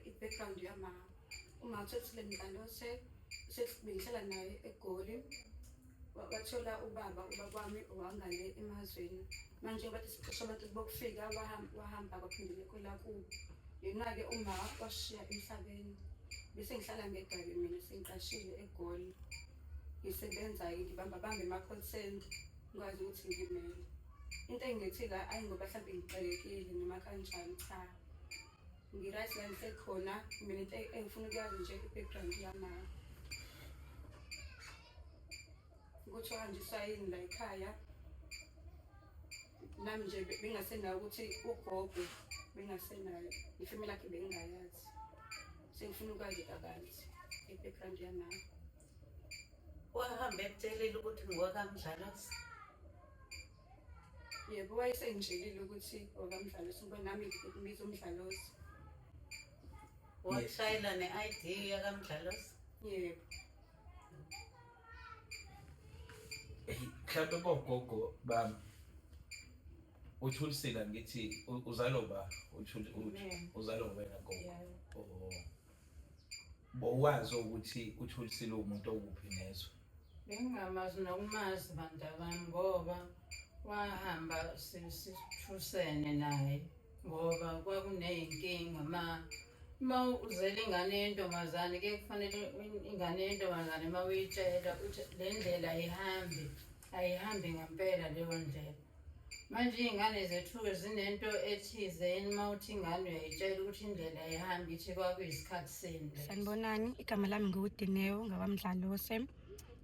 i-background yama uma uthola mdlalo sesibengihlala naye egoli wathola ubaba ubaba wami wangale emazweni manje bathi sixesha abantu bokufika wahamba kwaphindele kwelakubo yena-ke uma washiya emhlabeni bese ngihlala ngegabe mina sengiqashile egoli ngisebenza-ke ngibamba bambe ama-call center ngikwazi ukuthi ngimele into engithi la ayi ngoba mhlawumbe ngixelekile noma kanjani cha Ngiright la ngisekhona mina into engifuna ukuyazi nje i-background yama ukuthi uhanjiswa yini la ekhaya nami nje bengasenayo ukuthi ugogo bengasenayo ifamily yakhe bengingayazi sengifuna ukwazi kabanzi i-background yamama wahamba ekutshelile ukuthi ngowakamdlalosi yebo wayesengitshelile ukuthi okamdlalosi ngoba nami ngikubiza umdlalosi washayela ne-id yakamdlalosi yebo mhlawumbe bogogo bami uthulisile ngithi uzalo ba uzalo wena gogo oh. bowazi ukuthi uthulisile umuntu okuphi nezwe Bengingamazi nokumazi bantabami ngoba wahamba sithusene naye ngoba kwakuney'nkinga ma uma uzele ingane yentombazane ke kufanele ingane yentombazane uma uyitshela ukuthi le ndlela ayihambi ayihambi ngempela leyo ndlela Manje iy'ngane zethu-ke zinento ethize yini uma uthi ingane uyayitshela ukuthi indlela ihamba ithi kwakuyisikhathi sini lesi. Sanibonani, igama lami nguDineo ngabamdlalose.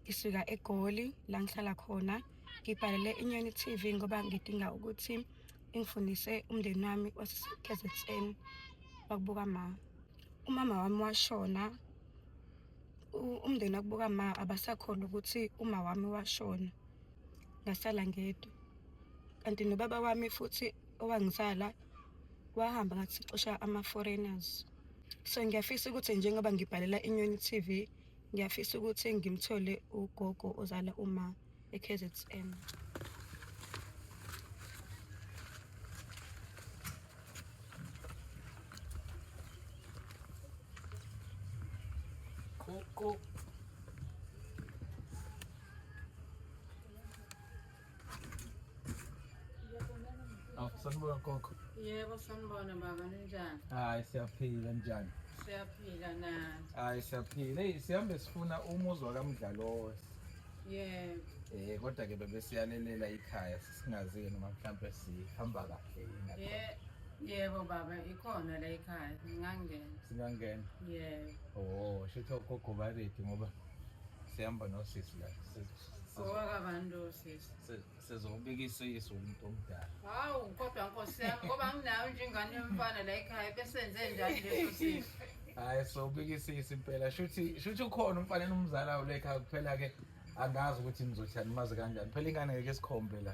Ngisuka eGoli la ngihlala khona. Ngibhalele iNyoni TV ngoba ngidinga ukuthi ingifundise umndeni wami waseKZN wakubuka ma. Umama wami washona. u- Umndeni wakubuka ma abasakholwa ukuthi uma wami washona. ngasala ngedwa kanti nobaba wami futhi owangizala wahamba ngathi sixosha ama-foreigners so ngiyafisa ukuthi njengoba ngibhalela inyoni t v ngiyafisa ukuthi ngimthole ugogo ozala uma e-k z n Cool, cool. Aw, sanibona gogo. Yebo sanibona baba ninjani? Hayi siyaphila njani? Siyaphila nani? Hayi siyaphila. Hey sihambe sifuna umuzwa kaMdlalosi. Yebo. Eh kodwa ke bebe siyalelela ikhaya sisingazi ke noma mhlambe sihamba kahle yini. Ye- Yebo baba ikhona la ekhaya ngingangena. Singangena. Yebo. Oh, shitho gogo baredi ngoba sihamba nosisi la owakabantu sisi sizobikisa isu umuntu omdala hawu kodwa nkosi yami ngoba nginayo nje ingane yomfana la ekhaya besenze njani leso sisi hayi sobikisa isu impela shuthi shuthi ukhona umfana enomzalayo lekhaya kuphela-ke angazi ukuthi nizothani mazi kanjani phela ingane ngeke sikhombe la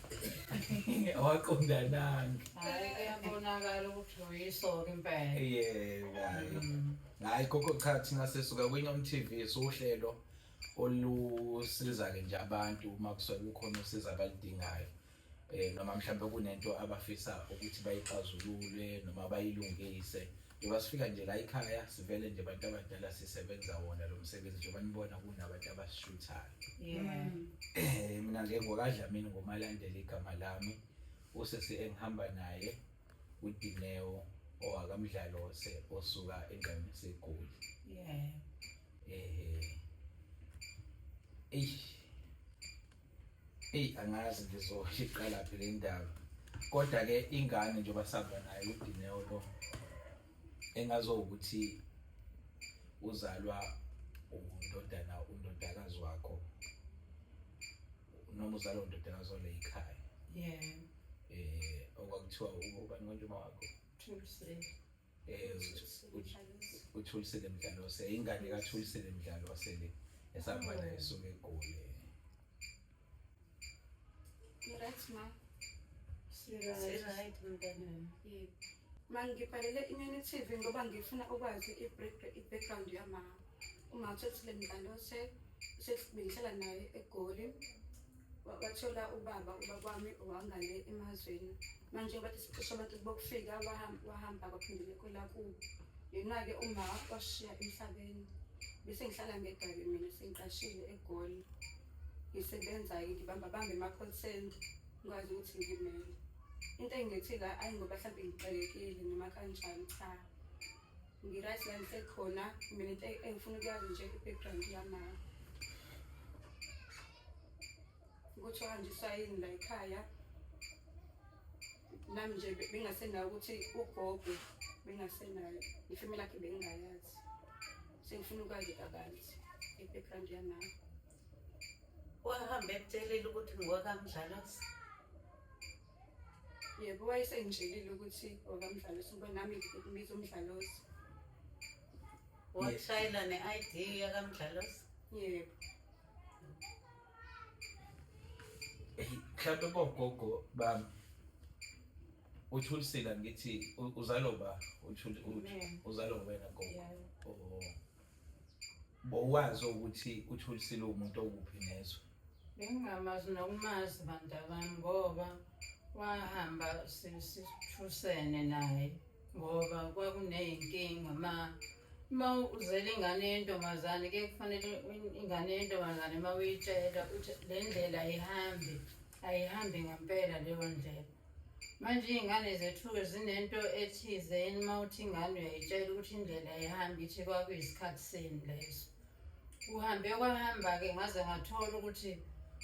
awaqondananga hayi kuyabonakala ukuthi uyisoka impela yebo hayi Mm. hayi gogo cha thina sisuka kwinyom t v siwuhlelo olusiza-ke nje abantu uma kusuke kukhona usiza abaludingayo um noma mhlawumbe kunento abafisa ukuthi bayixazulule noma bayilungise Njengoba sifika nje la ekhaya sivele nje abantu abadala sisebenza wona lo msebenzi njengoba nibona kunabantu abasishuthayo Yeah. Eh, mina nje ngokadlamini ngomalandela igama lami usisi engihamba naye uDineo owakamdlalose osuka endaweni segoli Yeah. eh eish Eyi angazi ngizoshiqala phi le ndaba kodwa ke ingane njengoba sihamba nayo uDineo lo engazowukuthi uzalwa undodana undodakazi wakho noma uzalwa undodakazi ole yikhaya yeah eh okwakuthiwa ubani konje uma wakho True uthulisile mdlalo wase ingane kathulisile mdlalo wasele esahamba naye esuke egoli Right ma. Right mntana. Yebo. Ma ngibhalele inyoni TV ngoba ngifuna ukwazi i-background yamama. Uma uthathile mdlalo se sesibilisela naye egoli. wathola ubaba ubaba wami wangale emazweni manje bathi sicisha abantu bokufika wahamba kwaphindele kwela kubo yena-ke uma washiya emhlabeni bese ngihlala ngedabi mina sengiqashile egoli ngisebenza-ke ngibamba bambe ema-call center ngikwazi ukuthi ngimele into engithi la ayi ngoba mhlawumbe ngixelekile noma kanjani cha ngi-right la ngisekhona mina into engifuna ukuyazi nje i-background yamama ukuthi uhanjiswa yini la ekhaya nami nje bengasenayo ukuthi ugogo bengasenayo ifemi lakhe bengingayazi sengifuna ukwazi kabanzi i-background yanayo wahambe ekutshelile ukuthi ngowakamdlalosi yebo wayesengitshelile ukuthi wakamdlalosi ngoba nami ngibiza umdlalosi washayela ne-id yakamdlalosi yebo mhlawumbe bogogo bami uthulisile ngithi uzalo ba uthuli uzalo wena gogo oh bowazi ukuthi uthulisile umuntu okuphi nezwe bengingamazi nokumazi bantabami ngoba wahamba sithusene naye ngoba kwakuney'nkinga ma Uma uzele ingane yentombazane ke kufanele ingane yentombazane uma uyitshela ukuthi le ndlela ayihambi ayihambi ngempela leyo ndlela manje iy'ngane zethu-ke zinento ethize yini uma uthi ingane uyayitshela ukuthi indlela ayihambi ithi kwakuyisikhathi sini leso kuhambe kwahamba-ke ngaze ngathola ukuthi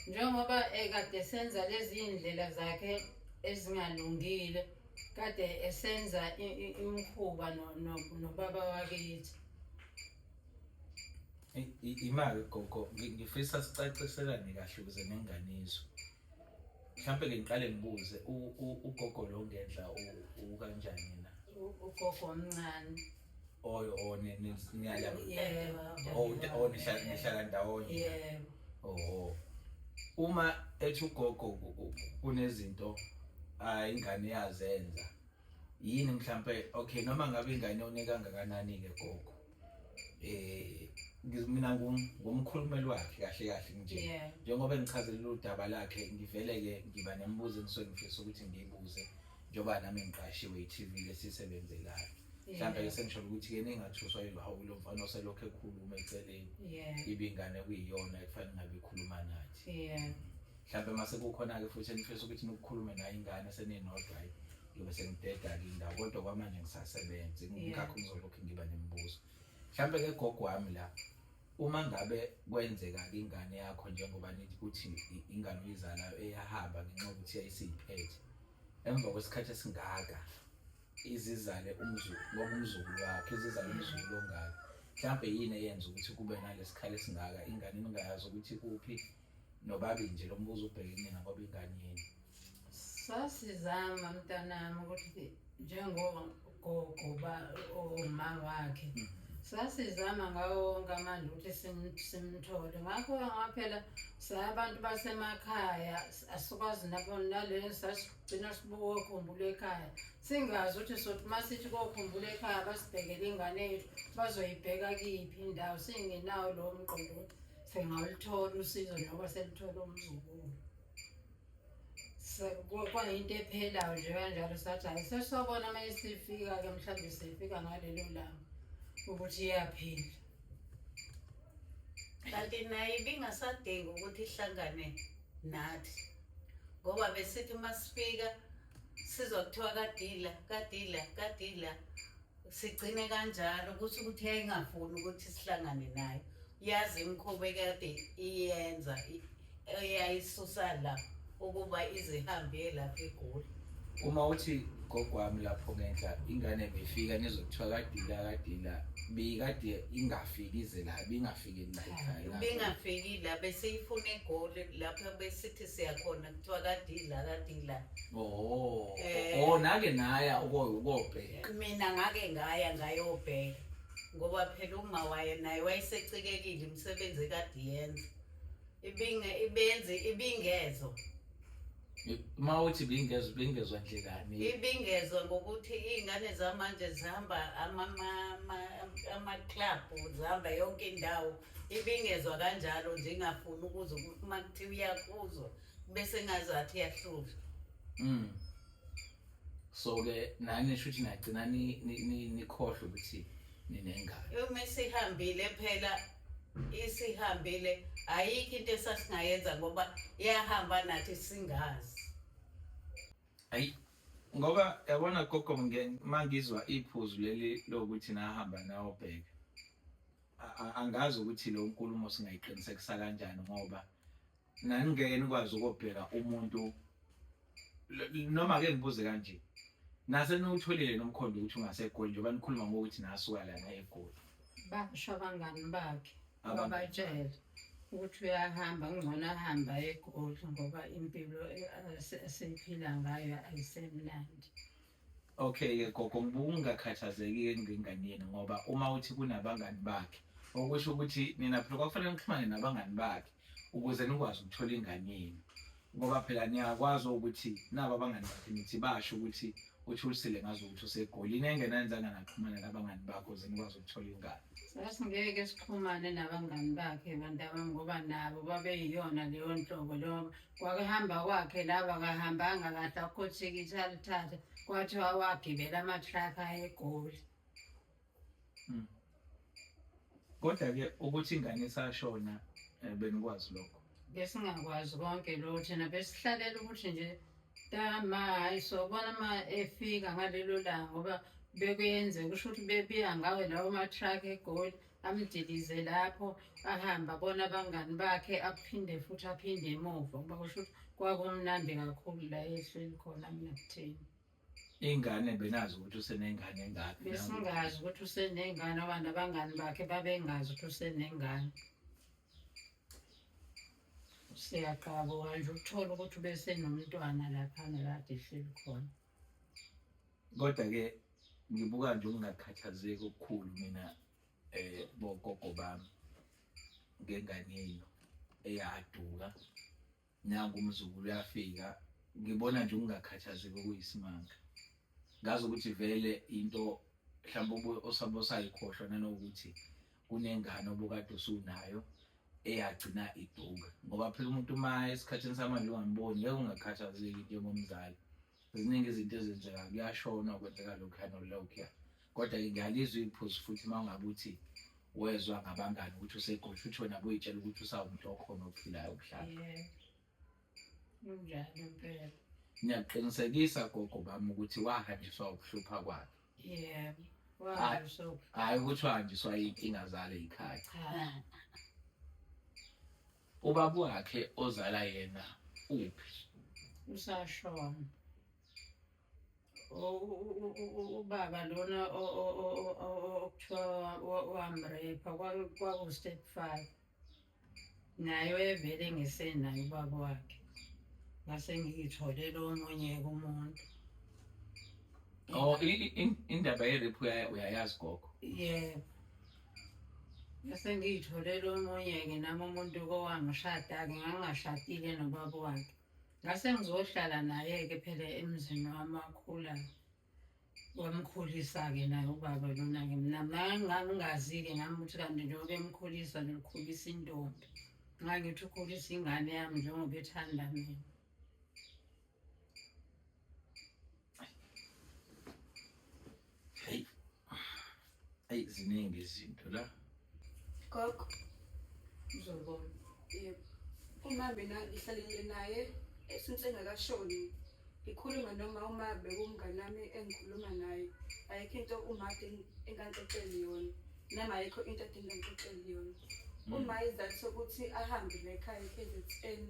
njengoba ekade senza lezi iy'ndlela zakhe ezingalungile kade esenza imkhuba nobaba wakithi imali gogo ngifisa sicaciselane kahle ukuze nengane izwe mhlawumbe ke ngiqale ngibuze ugogo lo ngendla ukanjani na ugogo omncane oyo oh, niyaya oh, oh, nihlala ndawonye yebo oho uma ethi ugogo kunezinto ah, ingane yazenza yini mhlampe okay noma ngabe ingane onika kangakanani ke gogo eh ngizimina ngumkhulumeli wakhe kahle kahle nje njengoba engichazelile udaba lakhe ngivele ke ngiba nemibuzo engisuke ngifisa ukuthi ngiyibuze njengoba nami ngiqashiwe i-TV lesisebenzelayo mhlawumbe ke sengisholo ukuthi yena engathuswa yihawu lo mfana oselokhu ekhuluma eceleni ibingane kuyiyona ekufanele ngabe ikhuluma nathi mhlawumbe uma sekukhona-ke futhi enifisa ukuthi nikukhulume nayo ingane seninodwa hayi ngiyobe sengideda-ke indawo kodwa kwamanje ngisasebenzi ngakho ngizolokhu ngiba nemibuzo mhlawumbe ke gogo wami la uma ngabe kwenzeka ingane yakho njengoba nithi ukuthi ingane uyizalayo eyahamba ngenxa yokuthi yayisiyiphethe emva kwesikhathi esingaka izizale umzulu ngoba umzulu wakhe izizale umzulu ongaka mhlawumbe yini eyenza ukuthi kube nalesikhala esingaka ingane ningayazi ukuthi kuphi nobabi nje lo mbuzo ubheke kunina ngoba ingane yenu sasizama mntanami ukuthi njengogogo ba uma wakhe mm. sasizama ngawo wonke amandla ukuthi simthole ngakho ngaphela sabantu basemakhaya asikwazi nabo naleni gcina sibokhumbula ekhaya singazi ukuthi sothi uma sithi kokhumbula ekhaya basibhekele ingane yethu bazoyibheka kiphi indawo singenawo lowo mqondo ukuthi singawulithola usizo njengoba selithola umzukulu kwayinto ephelayo nje kanjalo sathi hayi sesobona uma isifika-ke mhlawumbe sifika ngalelo langa ukuthi iyaphila kanti naye ibingasadingi ukuthi ihlangane nathi ngoba besithi uma sifika sizwa kuthiwa kadila kadila kadila sigcine kanjalo kusho ukuthi yayingafuni ukuthi sihlangane nayo yazi imikhuba ekade iyenza eyayisusa la ukuba izihambe lapho egoli uma uthi gogwami lapho ngenhla ingane beyifika nizokuthiwa kadila kadila beyikade ingafiki ize la bingafiki ubengafiki la besiyifuna egoli lapho besithi siyakhona kuthiwa kadila kadila oh eh. oh nake naya ukobheka mina ngake ngaya ngayobheka ngoba phela uma waye naye wayesecikekile imisebenzi kadiyenza ibinge ibenzi ibingezo uma uthi ibingezo ibingezwa ndlelani ibingezwa ngokuthi iy'ngane zamanje zihamba amaklabhu zihamba yonke indawo ibingezwa kanjalo nje ingafuni ukuze ukuthi uma kuthiwa iyakuzwa bese ngazathi iyahluzwa mm. so-ke nani sho ukuthi nagcina nikhohlwa ukuthi ninengane uma sihambile phela isihambile ayikho into esasingayenza ngoba iyahamba nathi singazi ayi ngoba yabona gogo uma ngizwa iphuzu leli lokuthi nahamba nayobheka angazi ukuthi lo nkulumo singayiqinisekisa kanjani ngoba Naningeke nikwazi ukobheka umuntu noma ke ngibuze kanje. Nase niwutholile nomkhondo ukuthi ungaseGoli njengoba nikhuluma ngokuthi nasuka lana eGoli. Basho abangani bakhe ababatshele ukuthi uyahamba ngcono ahamba eGoli ngoba impilo esiphila ngayo ayisemnandi. Okay-ke gogo ubungakhathazeki-ke ngengane yenu ngoba uma uthi kunabangani bakhe okusho ukuthi nina phela kwakufanele nixhumane nabangani bakhe ukuze nikwazi ukuthola ingane yenu ngoba phela niyakwazi ukuthi nabo abangani bakhe nithi basho ukuthi uthulisile ngazo ukuthi usegolini engenanzanga naxhumana nabangani bakho ukuze nikwazi ukuthola ingane sasingeke sixhumane nabangani bakhe bantabami ngoba nabo babeyiyona leyo nhlobo leyo Kwakehamba kwakhe laba kahambanga kahle akhothikithe alithathe kwathiwa wagibela ama-truck ayegoli Mm. Kodwa ke ukuthi ingane isashona eh, benikwazi lokho. besingakwazi konke lo thina besihlalela ukuthi nje tama hayi sobona uma efika ngalelo langa ngoba bekuyenzeka kusho ukuthi bebiya ngawo lawo ma-truck egoli amdilize lapho ahambe abona abangani bakhe aphinde futhi aphinde emuva kuba kusho ukuthi kwakumnandi kakhulu la ehleli khona mnakutheni ingane benazi ukuthi usenengane engakhi besingazi ukuthi usenengane abantu abangani bakhe babengazi ukuthi usenengane siyaqaba kanje ukuthola ukuthi ubesenomntwana laphana kade ehleli khona Kodwa-ke ngibuka nje ukungakhathazeki okukhulu mina eh bogogo bami ngengane yenu eyaduka nangu umzukulu uyafika ngibona nje ukungakhathazeki okuyisimanga ngazi ukuthi vele into mhlawumbe osabe osayikhohlwa nanokuthi kunengane obukade usunayo eyagcina iduka ngoba phela umuntu uma esikhathini samanje ungamboni ngeke ungakhathazeki njengomzali ziningi izinto ezenzeka kuyashona kwenzeka lokhuyana olokhuya kodwa-ke ngiyalizwa iphuzu futhi uma ungabe uthi wezwa ngabangani ukuthi usegodla uthona kuyitshela ukuthi usawumuntu okhona ophilayo okuhlala Kunjalo impela. Ngiyakuqinisekisa gogo bami ukuthi wahanjiswa ukuhlupha kwakhe. Yebo. Wazi so. Hayi ukuthi wahanjiswa inkinga zale ikhaya. Cha. Ubaba wakhe ozala yena uphi? Usashona. O- u- u- u- u- Ubaba lona o- o- o- o- o- okuthiwa wa- wamrepa kwaku- kwaku-step five. naye wayevele ngisenaye ubaba wakhe ngase ngiyitholele omunye kumuntu Oh indaba yerephu uyayazi gogo yebo ngase ngiyitholele omunye-ke nami umuntu kowangishada-ke ngangingashadile nobaba wakhe ngase ngizohlala naye-ke phela emzini wami akhulayo wamkhulisa-ke naye ubaba lona-ke mina ngangingazi-ke ngami ukuthi kanti njengoba emkhulisa ngikhulisa intombi ngangithi ukhulisa ingane yami njengoba ethanda mina Eyi ziningi izinto la. Gogo. Uzobona. Yebo. Uma mina ngihlalile naye since engakashoni ngikhuluma noma uma bekumngane wami engikhuluma naye ayikho into uma engaxoxeli yona noma ayikho into adinga ngixoxeli yona. Mm. Uma izathu sokuthi ahambe la ekhaya eKZN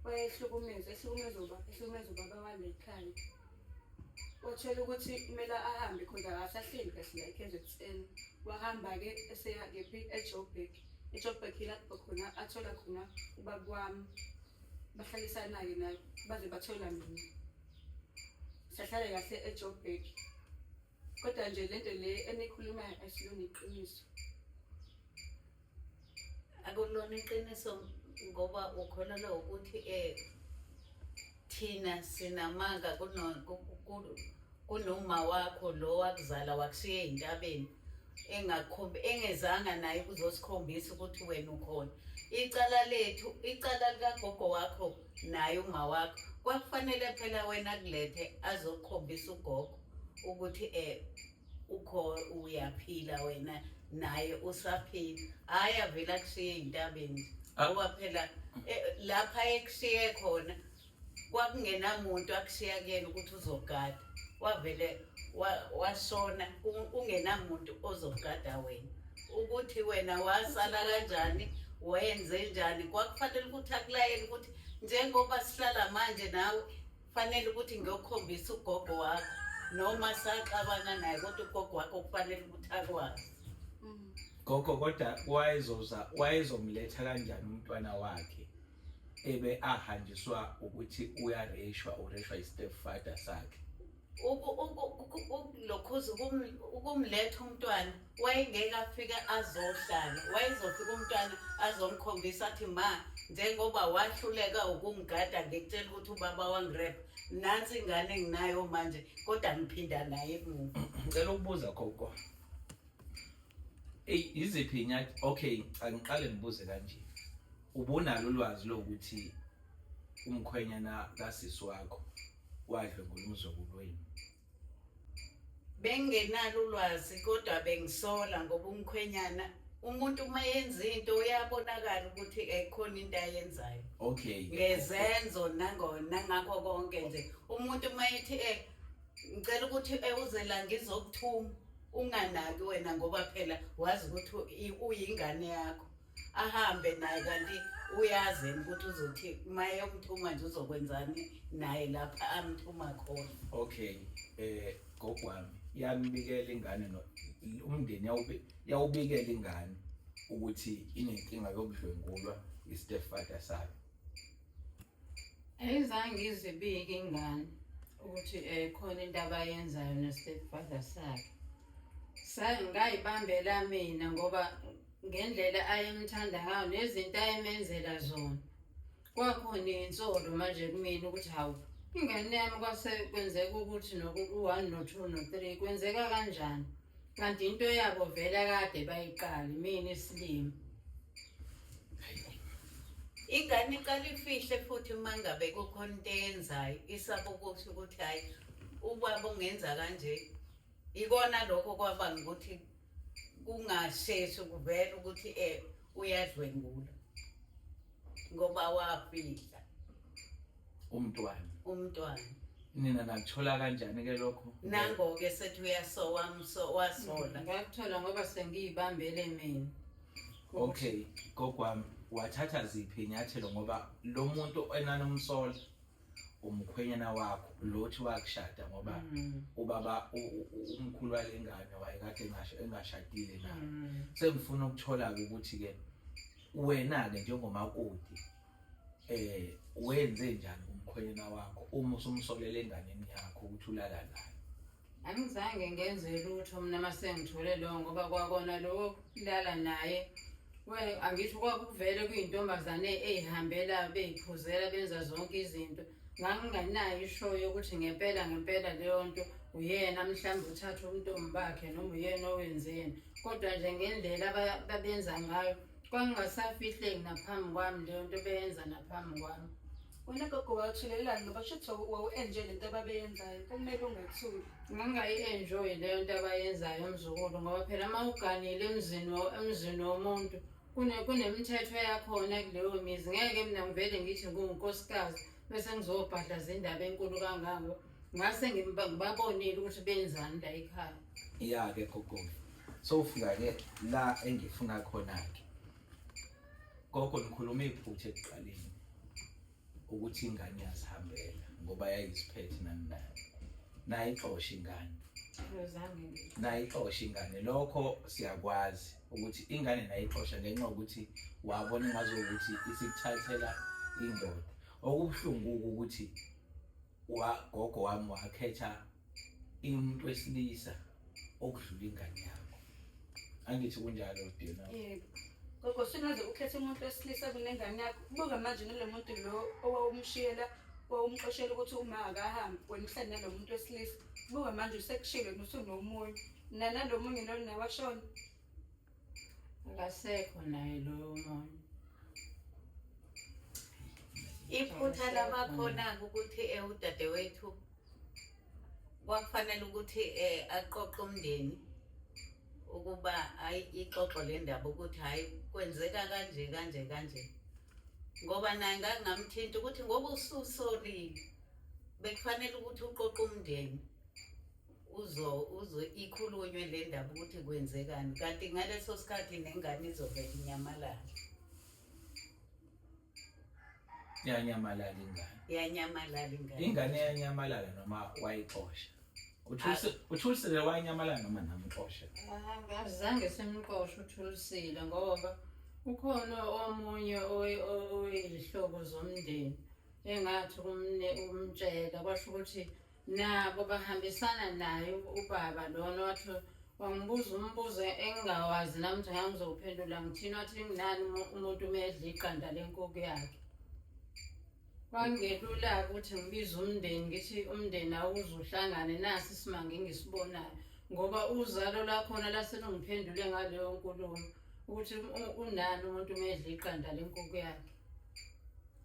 wayehlukumeza ehlukumeza ubaba ehlukumeza ubaba wale ekhaya. wathola ukuthi kumele ahambe khona akasahleli kahle la e-kzn wahamba-ke eseya kephi ejoburg ejoburg yilapho khona athola khona ubaba wami bahlalisana-ke nayo baze bathola mina sahlale kahle ejoburg Kodwa nje lento le enikhulumayo asilona iqiniso. Akulona iqiniso ngoba ukholelwa ukuthi eh thina sinamanga kuno kunoma wakho lo wakuzala wakushiya ezintabeni engakhombi engezanga naye kuzosikhombisa ukuthi wena ukhona icala lethu icala likagogo wakho naye uma wakho kwakufanele phela wena kulethe azokukhombisa ugogo ukuthi eh ukho uyaphila wena naye usaphila hayi avela kushiye intabeni ah. ngoba phela eh, lapha ekushiye khona kwakungenamuntu akushiya kuyena ukuthi uzogada wavele washona ungenamuntu ozogada wena ukuthi wena wasala kanjani wayenze njani kwakufanele ukuthi akulayele ukuthi njengoba sihlala manje nawe Kufanele ukuthi ngiyokhombisa ugogo wakho noma saxabana naye kodwa ugogo wakho kufanele ukuthi akwazi. Mm. Gogo kodwa wayezoza wayezomletha kanjani umntwana wakhe ebe ahanjiswa ukuthi uyareshwa ureshwa i-step father sakhe. Uku uku uku ukulokhuza ukumletha umntwana. wayengeke afike azohlala wayezofika umntwana azomkhombisa athi ma njengoba wahluleka ukungigada ngikutshela ukuthi ubaba wangirepa nansi ingane enginayo manje kodwa ngiphinda naye emuva ngicela ukubuza gogo eyi yiziphi inyathi okay angiqale ngibuze kanje ubunalo ulwazi lokuthi umkhwenyana kasisi wakho wadlwengula umzukulu wenu bengingenalo ulwazi kodwa bengisola ngoba umkhwenyana umuntu uma yenza into uyabonakala ukuthi ekhona into ayenzayo okay ngezenzo nangona ngakho konke nje umuntu uma ethi eh ngicela ukuthi eh, uze la ngizokuthuma unganaki wena ngoba phela wazi ukuthi uyingane yakho ahambe naye kanti uyazini ukuthi uzothi uma eyomthuma nje uzokwenzani naye lapha amthuma khona okay eh gogo wami yambikela ingane no umndeni yawube yawubikela ingane ukuthi inenkinga yokudlwengulwa istepfather sayo ayizange izibike ingane ukuthi um khona into abayenzayo ne-stepfather sakhe ngayibambela mina ngoba ngendlela ayemthanda ngayo nezinto ayemenzela zona kwakhona insolo manje kumina ukuthi hawu ingane yami kwase kwenzeka ukuthi noku-one no-two no-three kwenzeka kanjani kanti into yabo vele kade bayiqali mina isilima ingane iqala ifihle futhi uma ngabe kukhona into eyenzayo isaba ukuthi ukuthi hhayi ubaba ungenza kanje ikona lokho kwabanga ukuthi kungasheshi kuvela ukuthi um uyadlwengula ngoba wafihla umntwana umntwana nina nakuthola kanjani ke lokho nangoke sethi uyasowa mso wasola ngakuthola ngoba sengiyibambele mina okay gogwami wathatha ziphi inyathelo ngoba lo muntu enanomsola umkhwenyana wakho lothi wakushada ngoba mm. ubaba umkhulu walengane wayekade engasho engashadile naye mm. sengifuna ukuthola ukuthi ke wena ke njengomakoti eh wenze njani umkhwenyana wakho uma usumsolele enganeni yakho ukuthi ulala naye angizange ngenze lutho mina masengithole lowo ngoba kwakona lowo kulala naye angithi kwakuvele kuyintombazane eyihambela beyiphuzela benza zonke izinto nganginganayo ishoyo yokuthi ngempela ngempela leyo nto uyena mhlawumbe uthatha umntombi bakhe noma uyena owenzeni kodwa nje ngendlela babenza ngayo kwangingasafihleki naphambi kwami leyo nto beyenza naphambi kwami wena gogo wathulelelani ngoba shuthi wawu-enjoy le nto ababeyenzayo kumele ungathuli ngangingayi-enjoyi leyo nto abayenzayo mzukulu ngoba phela uma uganile emzini emzini womuntu kunemithetho yakhona kuleyo mizi ngeke mina ngivele ngithi ngunkosikazi bese ngizobhadlaza indaba enkulu kangako ngase ngibabonile ukuthi benzani la ekhaya ya ke gogo sowufika ke la engifuna khona ke gogo nikhuluma iphutha ekuqaleni ukuthi ingane yazihambela ngoba yayiziphethe naninayo nayixosha ingane nayixosha ingane lokho siyakwazi ukuthi ingane nayixosha ngenxa yokuthi wabona ngazo ukuthi isikuthathela indoda okubuhlungu ukuthi wagogo wami wakhetha umuntu wesilisa okudlula ingane yakho angithi kunjalo dina yebo gogo singaze ukhethe umuntu wesilisa kunengane yakho buka manje nalo muntu lo owawumshiyela wawumxoshela ukuthi uma akahambi wena uhlale nalo muntu wesilisa buka manje usekushilo nosunomunye nanalo munye lona washona akasekho naye loyo muntu iphutha labakhona ukuthi eh, udadewethu kwakufanele ukuthi eh, aqoqe umndeni ukuba hayi ixoxo le ndaba ukuthi hayi kwenzeka kanje kanje kanje ngoba naye ngakungamthinta ukuthi ngoba ususolile bekufanele ukuthi uqoqe umndeni uzo uzo ikhulunywe le ndaba ukuthi kwenzekani kanti ngaleso sikhathi nengane izovela inyamalala yanyamalala ingane yanyamalala ingane ingane yanyamalala noma wayixosha uthulisile ah. wanyamalala noma namxosha azange simxoshe uthulisile ngoba ukhona omunye oyizihlobo zomndeni engathi umtshela kwasho ukuthi nabo bahambisana naye ubaba lona wathi wangibuza umbuzo engingawazi nami nje ngangizowuphendula ngithini wathi nginani umu- umuntu uma edla iqanda lenkukhu yakhe kwangelula-ke ukuthi ngibize umndeni ngithi umndeni awuze uhlangane nasi isimanga engisibonayo ngoba uzalo lakhona laselungiphendule ngaleyo nkulumo ukuthi u- unani umuntu uma edla iqanda lenkukhu yakhe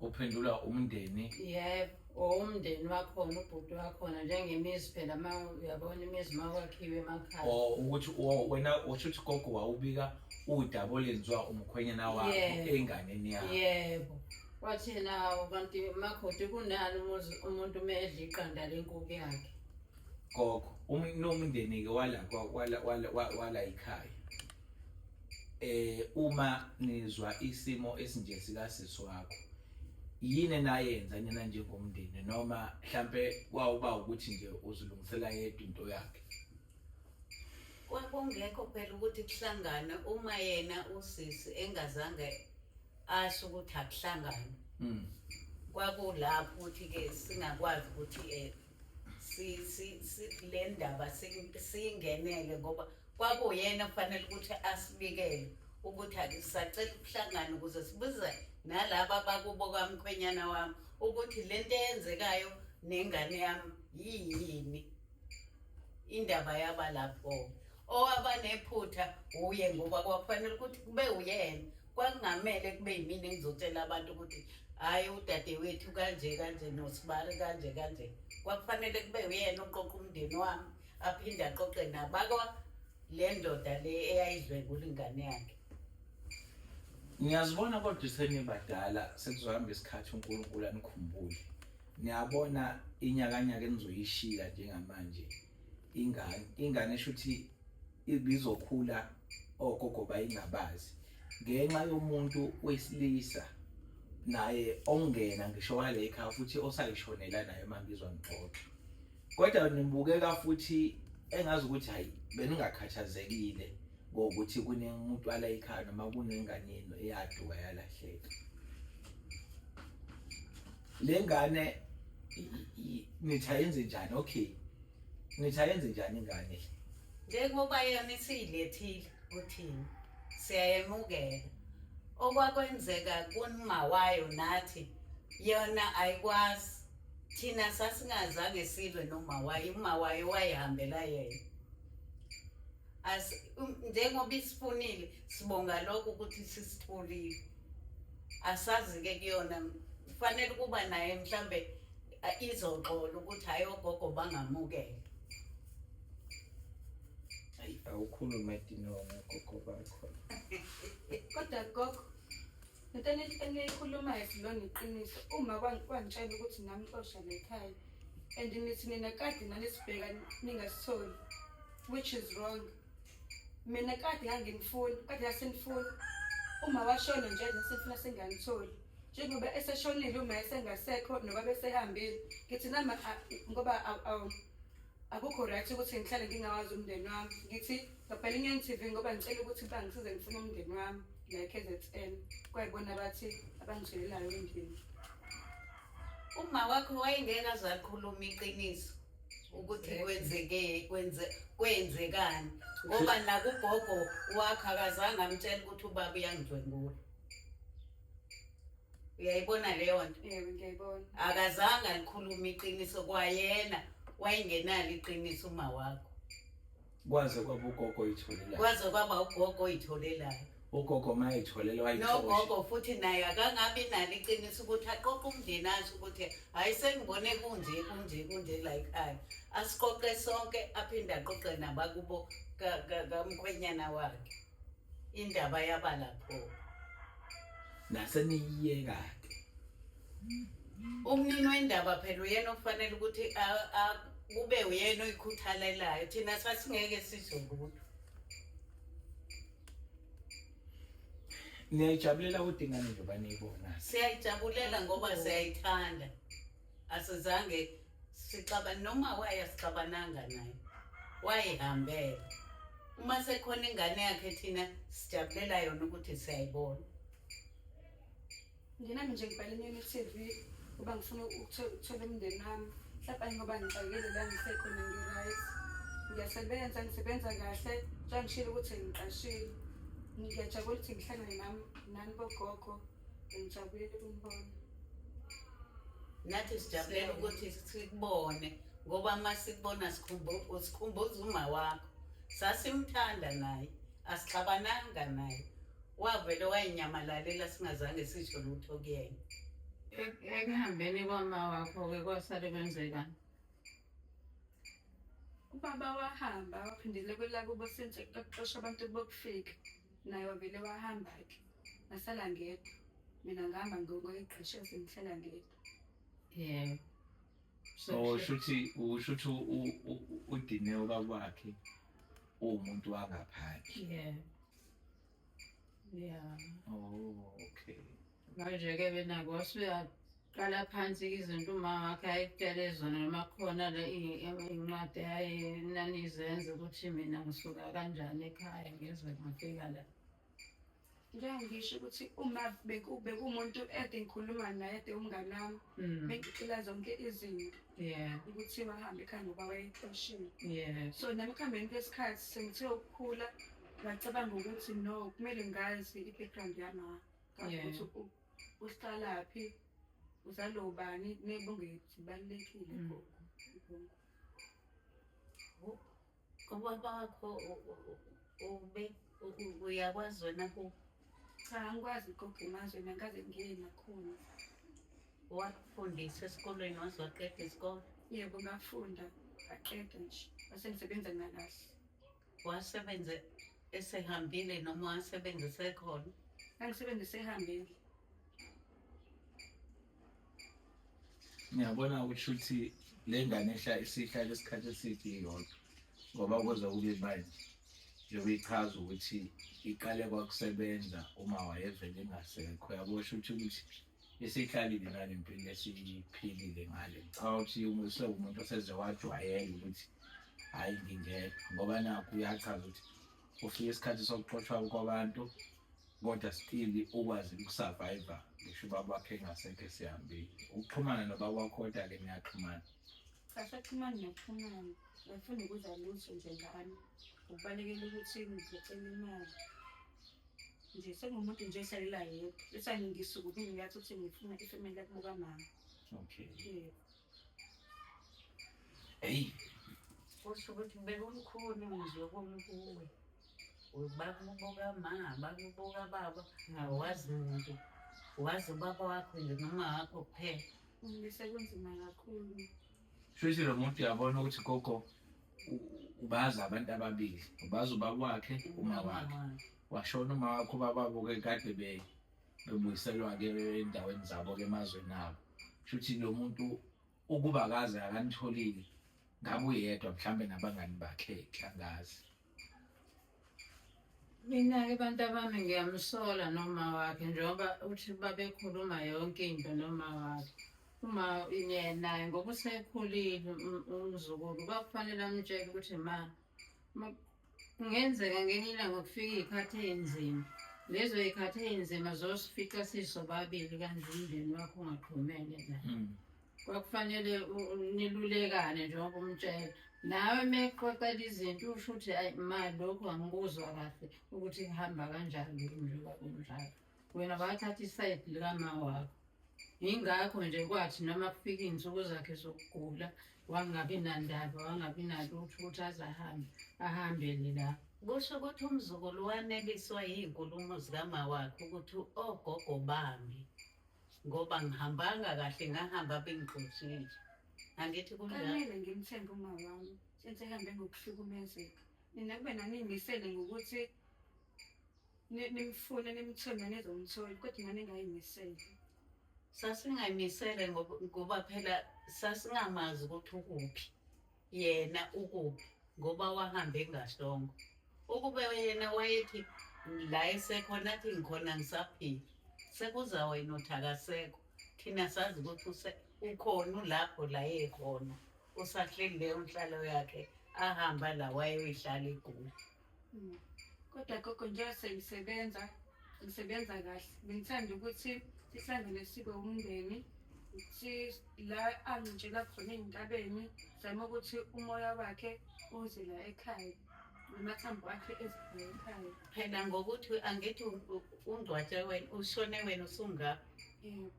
uphendula umndeni yebo or umndeni wakhona ubhuti wakhona njengemizi phela uma uyabona imizi uma kwakhiwe emakhaya or ukuthi wo- wena usho ukuthi gogo wawubika udaba olenziwa umkhwenyana wakho Yeah. enganeni yakho yebo wathi yena hawu kanti makoti kunani umuzi- umuntu uma edla iqanda lenkuku yakhe gogo um- nomndeni-ke wala kwa- wala- wala- wa- wala yikhaya eh uma nizwa isimo esinje sika sisi wakho yini enayenza nina njengomndeni noma mhlambe kwawuba ukuthi nje uzilungisela yedwa into yakhe kwakungekho phela ukuthi kuhlangane uma yena usisi engazange asho ukuthi akuhlangane hmm. kwakulapho ukuthi-ke singakwazi ukuthi um le ndaba siyingenele ngoba kwakuyena kufanele ukuthi asibikele ukuthi akusacela ukuhlangana ukuze sibuze nalaba bakubo kwamkhwenyana wami ukuthi le nto eyenzekayo nengane yami yiyini indaba yaba lapho owaba nephutha wuye ngoba kwakufanele ukuthi kube uyena kwakungamele kube yimina engizotshela abantu ukuthi hhayi udadewethu kanje kanje nosibari kanje kanje kwakufanele kube uyena uqoqa umndeni wami aphinde aqoqe nabakwa le ndoda le eyayidlwengula ingane yakhe ngiyazibona kodwa isenibadala sekuzohamba isikhathi unkulunkulu anikhumbule niyabona inyakanyaka enizoyishiya njengamanje ingane ingane shuthi ibizokhula ogogo bayingabazi ngenxa yomuntu wesilisa naye ongena ngisho wale ekhaya futhi osayishonela naye mangizwa ngixoxa kodwa nibukeka futhi engazi ukuthi hayi beningakhathazekile ngokuthi kunemuntu wala ekhaya noma kunengane yenu eyaduka yalahleka le ngane ngithi ayenze njani okay ngithi ayenze njani ingane njengoba yona isiyilethile uthini siyayemukela okwakwenzeka kunima wayo nathi yona ayikwazi thina sasingazange silwe noma wayo uma wayo wayihambela yena as um, njengoba isifunile sibonga lokho ukuthi sisitholile asazi ke kuyona kufanele ukuba naye mhlambe izoxola ukuthi hayi ogogo bangamukele ayi awukhulume dinongo gogo bakho kodwa gogo into eniyikhulumayo silona iqiniso uma kwangitshela ukuthi namxosha lekhaya and nithi nina kade nanisibheka ningasitholi which is wrong mina kade nganginifuni kade yasenifuni uma washona nje nasifuna senganitholi njengoba eseshonile uma esengasekho noba besehambile ngithi nami ngoba akukho right ukuthi ngihlale ngingawazi umndeni wami ngithi ngabhala inyani tv ngoba ngicela ukuthi bangisize ngifune umndeni wami la kzn kwayibona bathi abangithelelayo endlini uma wakho wayengeke azakhuluma iqiniso ukuthi kwenzeke kwenze kwenzekani ngoba nakugogo wakhe akazange amtshela ukuthi ubaba uyangidlwengula uyayibona leyo nto Yebo ngiyayibona. akazange alikhulume iqiniso kwayena wayengenalo iqiniso uma wakho Kwaze kwaba ugogo oyitholelayo. Kwaze kwaba ugogo oyitholelayo. Ugogo uma eyitholela wayithola. Nogogo futhi naye akangabi nalo iqiniso ukuthi aqoqe umndeni asho ukuthi hayi sengibone kunje kunje kunje la ekhaya. Asiqoqe sonke aphinde aqoqe nabakubo kamkhwenyana wakhe. indaba yaba lapho naseniyiyeka ke umnini wendaba phela uyena okufanele ukuthi kube uyena oyikhuthalelayo thina sasingeke sizwe lutho niyayijabulela udingane njengoba niyibona siyayijabulela ngoba siyayithanda asizange sixaba noma wayasixabananga naye wayihambela uma sekhona ingane yakhe thina sijabulela yona ukuthi siyayibona nginami nje ngibhale inyoni tv uba ngifuna ukuthola umndeni wami mhlawumbe ayingoba ngixakile la ngisekhona ngi-right ngiyasebenza ngisebenza kahle njengoba ngishile ukuthi ngiqashile ngiyajabula ukuthi ngihlangane nami nani bogogo Ngijabule ukumbona. Nathi sijabulela ukuthi sikubone ngoba uma sikubona sikhumbuza uma wakho. Sasimthanda naye, asixabananga naye. Wavele wayinyamalalela singazange sisho lutho kuyena. Ekuhambeni kwama wakho-ke kwasale kwenzekani? Ubaba wahamba waphindele kwelakubo sentshe kuxosha abantu bokufika. Naye wavele wahamba-ke. ngasala ngedwa mina ngihamba ngibonga igqeshe sengihlala ngedwa yebo so shuthi ushuthi udine obakwakhe uwumuntu wangaphandle yebo yeah oh okay manje ke bena kwasuya qala phansi izinto uma wakhe ayitshele zona noma khona le incwadi ayenanizenza ukuthi mina ngisuka kanjani ekhaya ngizwe ngifika la Ngeke ngisho ukuthi uma beku- bekumuntu ede ngikhuluma naye ede umngane wami Mm. bengixila zonke izinto Yeah, ukuthi wahambe ekhaya ngoba wayexoshile yeah. so nami ekuhambeni kwesikhathi sengithe ukukhula ngacabanga ukuthi no kumele ngazi i-background yami Yeah. ukuthi u- uhlalaphi uzalo ubani nebongethu balulekile Mm. gogo. Kuba kwakho ube uyakwazi wena ku cha angikwazi ukugoga imazwe mina kaze ngingene nakhona wakufundiswa esikolweni waze waqeda isikole yebo ngafunda aqeda nje wase ngisebenza ngalahle wasebenze esehambile noma wasebenza esekhona angisebenza esehambile Ngiyabona ukuthi uthi le ngane ehla isihlale isikhathi eside iyodwa ngoba kuze kube manje njengoba ichaza ukuthi iqale kwakusebenza uma wayevele engasekho yabosho ukuthi ukuthi esiyihlalile nale mpilo esiyiphilile ngale ngicabanga ukuthi umuse umuntu oseze wajwayela ukuthi hhayi ngingekho ngoba nakho uyachaza ukuthi ufike isikhathi sokuxoshwa kwabantu kodwa still ukwazi ukusurvive ngisho ubaba wakhe engasekho esihambile ukuxhumana nobaba wakho kodwa-ke niyaxhumana asaxhumani nokuxhumana ngifuna ukuza lutho nje ngani ukubalekela ukuthi ngizocela imali nje sengumuntu nje esalela yedwa esangingisukubi ngiyathi ukuthi ngifuna ifemeli yakubuka mama okay yeah. Eyi. Kusho ukuthi bekulukhuni ngizwe kumi kuwe. Bakubuka ma, bakubuka baba, awazi muntu. Wazi ubaba wakho nje noma wakho kuphela. Ngisekunzima kakhulu. Shuthi lo muntu uyabona ukuthi gogo ubazi abantu ababili. Ubazi ubaba wakhe, uma wakhe. Washona uma wakho ubaba wakho kade be bebuyiselwa-ke endaweni zabo-ke emazweni abo shuthi lo muntu ukuba kaze akanitholile ngabe uyedwa mhlawumbe nabangani bakhe angazi mina-ke bantu abami ngiyamsola noma wakhe njengoba uthi babekhuluma yonke into noma wakhe uma naye ngoba usekhulile umzukulu kwakufanele amtshele ukuthi ma Kungenzeka ngenye ilanga kufika iy'khathi ey'nzima. Lezo y'khathi ey'nzima zosifica sisobabili kanti umndeni wakho ungaxhumene la. Mm. Kwakufanele u- u- nilulekane njengoba umtshela. Nawe uma exoxela izinto usho ukuthi ayi ma lokhu angikuzwa kahle ukuthi kuhamba kanjani njengoba kunjalo. wena bathatha isayidi likama wakho yingakho nje kwathi noma kufika iy'nsuku zakhe zokugula wangabi nandaba wangabi nalutho ukuthi aze ahambe ahambele la kusho ukuthi umzukulu waneliswa yiy'nkulumo zikama wakhe ukuthi ogogo bami ngoba ngihambanga kahle ngahamba bengigqosile angithi kunjalo Kumele ngimthembe uma wami since ehambe ngokuhlukumezeka. Nina kube naniyimisele ngokuthi nimfune nimthembe nizomthola kodwa ngane ngayimisele sasingayimisele ngoba phela sasingamazi ukuthi ukuphi yena ukuphi ngoba wahambe engasongo ukube yena wayethi la esekhona athi ngikhona ngisaphila sekuza wena uthi akasekho thina sazi ukuthi ukhona ulapho la yekhona usahleli leyo nhlalo yakhe ahamba la wayoyihlala egoli Mm. Kodwa gogo njengoba sengisebenza ngisebenza kahle bengithanda ukuthi sihlangane sibe umndeni ukuthi la angitshela khona ey'ntabeni zama ukuthi umoya wakhe uze la ekhaya namathambo akhe ezibheke ekhaya phela ngokuthi angithi ungcwatshe wena ushone wena usungapha yebo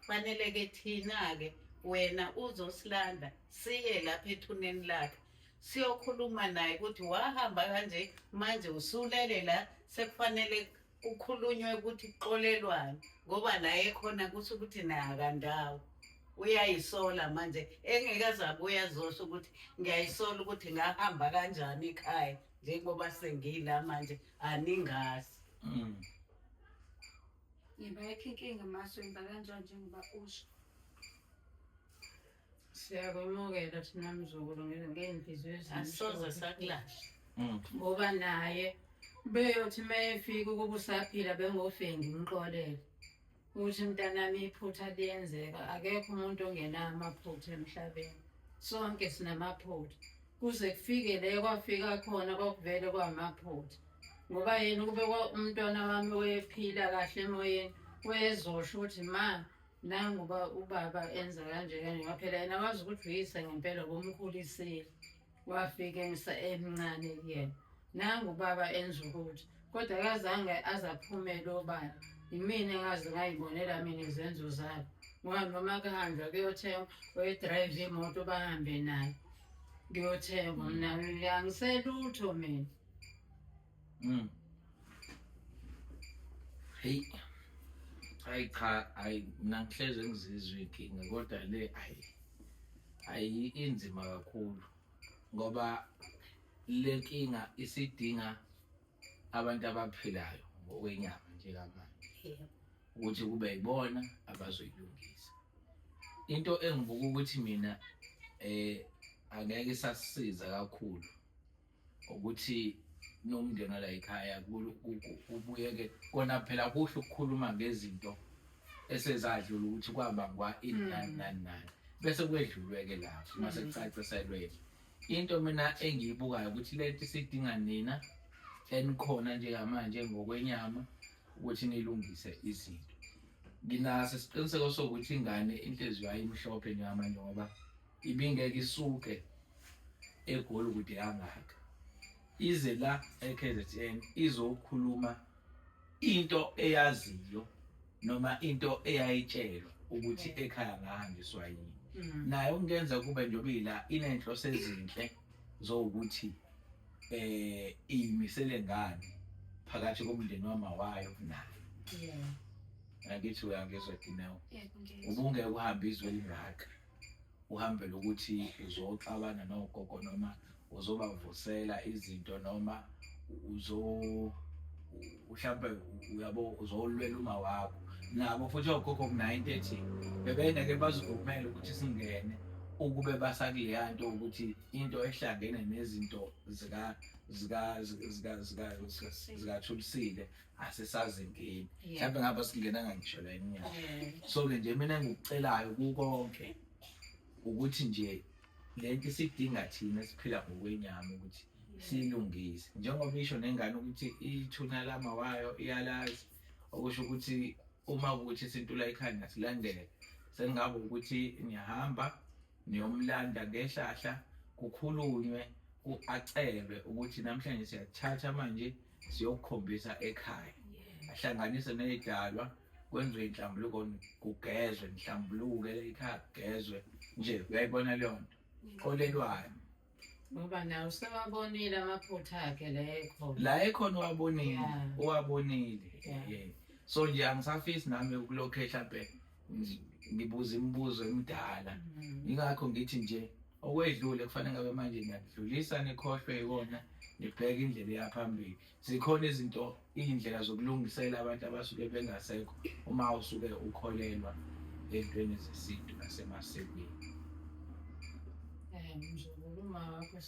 fanele-ke thina-ke wena uzosilanda siye lapha ethuneni lakhe siyokhuluma naye ukuthi wahamba kanje manje usulele la sekufanele kukhulunywe ukuthi kuxolelwane ngoba la ekhona kusho ukuthi naye akandawo uyayisola manje engekaze abuya zosho ukuthi ngiyayisola ukuthi ngahamba kanjani ekhaya njengoba sengila manje aningazi mm. ngibayikho inkinga maso yenza kanjani njengoba usho siyakwemukela thina mzukulu ngey'nhliziyo asoze sakulahla mm. ngoba naye beyothi uma efika ukuba usaphila bengofengi umxolele ukuthi mntanami iphutha liyenzeka akekho umuntu ongenayo amaphutha emhlabeni sonke sinamaphutha kuze kufike le kwafika khona kwakuvele kwamaphutha ngoba yena ukube umntwana wami wephila kahle emoyeni wezosho ukuthi ma nangu uba ubaba enza kanje kanje ngoba phela yena wazi ukuthi uyise ngempela ubumkhulisile wafika emsa emncane kuyena nangu ubaba enza ukuthi kodwa kazange aze aphumele obala yimina engaze ngayibonela mina izenzo zabo ngoba noma kuhanjwa kuyothengwa oyidrayive imoto bahambe nayo kuyothengwa mna angiselutho mina Mm. Hey. Hayi cha, hayi mina ngihleze ngizizwe inkinga kodwa le hayi. Hayi inzima kakhulu ngoba le nkinga isidinga abantu abaphilayo ngokwenyama njengamanje. Yebo. ukuthi kube yibona abazoyilungisa into engibuka ukuthi mina eh angeke isasisiza kakhulu ukuthi nomndeni wala ekhaya kubuyeke kona phela kuhle ukukhuluma ngezinto esezadlula ukuthi kwabangwa ini hmm. nani nani nani bese kwedlulwe-ke lapho uma hmm. sekucaciselweke into mina engiyibukayo ukuthi lento isidinga nina enikhona njengamanje ngokwenyama ukuthi nilungise izinto nginaso isiqiniseko sokuthi ingane inhliziyo ayimhlophe njengamanje ngoba ibingeke isuke egoli kude kangaka ize la eKZN izokhuluma into eyaziyo noma into eyayitshelwa ukuthi ekhaya ngahanjiswa yini mm. naye ukungenza kube njengoba ila inenhloso ezinhle zowukuthi eh iyimisele ngani phakathi komndeni wamawayo naye yeah ngakithi uyangizwa dineo ubungeke uhambe izwe lingaka uhambe lokuthi uzoxabana nogogo noma uzobavusela izinto noma uzo mhlawumbe uyabo uzolwela uma wakho nabo futhi ogogo kunayo into ethi bebengeke bazivumele ukuthi singene ukube basakuleya nto ukuthi into ehlangene nezinto zikathulisile asisazi ngini mhlawumbe ngaba singenanga ngisho la inyanga so-ke nje mina engikucelayo kukonke ukuthi nje le nto isidinga thina siphila ngokwenyama ukuthi siyilungise njengoba isho nengane ukuthi ithuna lama wayo iyalazi okusho ukuthi uma ukuthi isintula ikhanda silandele sengabe ukuthi niyahamba niyomlanda ngehlahla kukhulunywe acelwe ukuthi namhlanje siyathatha manje siyokukhombisa ekhaya ahlanganise ney'dalwa kwenziwe inhlambuluko kugezwe nihlambuluke ekhaya kugezwe nje uyayibona leyo nto kolelwani ngoba nawe usewabonile amaphutha akhe la ekhona la ekhona uwabonile Yeah. uwabonile Yeah. Yeah. so nje angisafisi nami ukulokhe hlampe ngi- ngibuza imibuzo emidala Mm. ingakho ngithi nje okwedlule kufanele ngabe manje niyakudlulisa nikhohlwe ikona nibheke indlela eyaphambili zikhona izinto iy'ndlela zokulungisela abantu abasuke bengasekho uma usuke ukholelwa ey'ntweni zesintu nasemasikweni ngizokuma wakho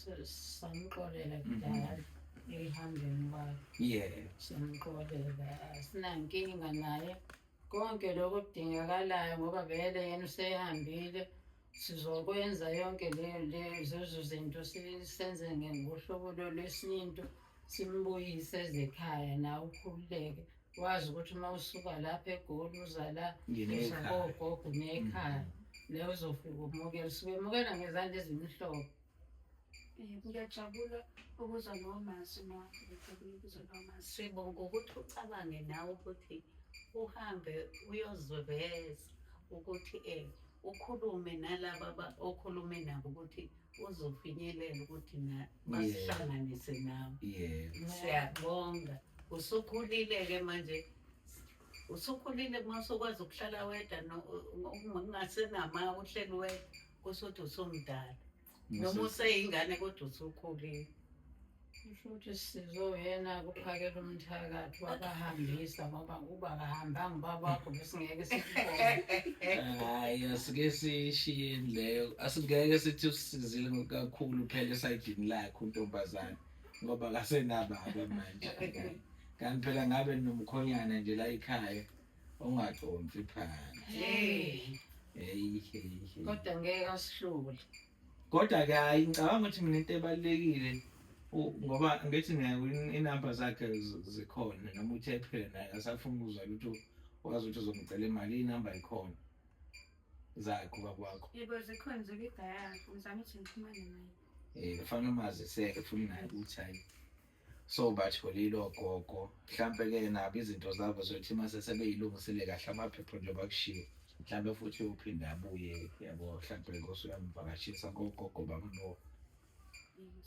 samxolela kudala ehambeni kwakhe yebo samxolela asinankinga naye konke lokhu kudingakalayo ngoba vele yena usehambile Sizokwenza yonke lezo zinto senze ngohlobo lwesintu simbuyise ezekhaya nawe ukhululeke wazi ukuthi uma usuka lapha egoli uza la uza kogogo nekhaya mm. leyo uzofika umukela suke emukela ngezandla ezimhlophe Eh, ngiyajabula ukuzwa lawo mazwi ma ngiyajabula ukuzwa lawo mazwi sibonga ukuthi ucabange nawe ukuthi uhambe uyoziveza ukuthi um ukhulume nalaba aba- okhulume nabo ukuthi uzofinyelela ukuthi na- basihlanganise nawe yebo siyabonga usukhulile-ke manje usukhulile uma usukwazi ukuhlala wedwa no- u- u- ungasenama uhleli wedwa kusho ukuthi usumdala noma useyingane kodwa usukhulile kusho ukuthi sizo yena kuphakela umthakathi wabahambisa ngoba uba kahambanga ubaba wakho besingeke sikubone hayi asike siyishiyeni leyo asingeke sithi usisizile kakhulu phela esayidini lakhe untombazane ngoba kasenababa manje kanti phela ngabe nomkhonyana nje la ekhaya ungaconsi phansi hey hey hey kodwa ngeke asihlule kodwa ke hayi ngicabanga ukuthi mina into ebalekile ngoba ngithi naye inamba zakhe zikhona noma uthe phela naye asafuna ukuzwa lutho wazi ukuthi uzomcela imali inamba ikhona zakho bakwakho yebo zikhona zokigaya ngizama ukuthi ngiphumane naye eh fanele umaziseke futhi naye ukuthi hayi So batholile ogogo mhlampe ke nabo izinto zabo zokuthi mase sebeyilungisile kahle amaphepha nje bakushiye mhlampe futhi uphinde abuye yabo mhlampe nkosi uyamvakashisa kogogo bakuno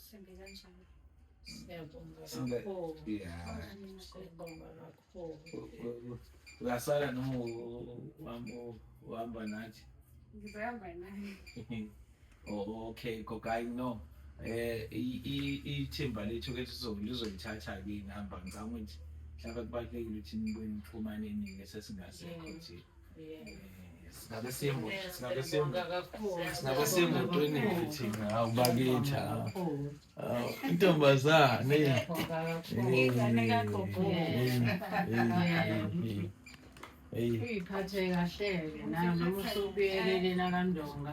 Sembe kanjalo. Siyabonga Siyabonga. kakhulu. yeah Siyabonga kakhulu. Uyasala noma uhamba nathi? Ngizohamba naye. Oh, okay, gogayi no. Eh ithimba lethu ke lizolithatha ke ngihamba ngicabanga ukuthi mhlawumbe kubalulekile ukuthi nibuye nixhumane nini sesingasekho nje. singabe semotweni thina hawu bakithi hawu intombazane uyiphathe kahleke nayo noma usubuyelelena kandonga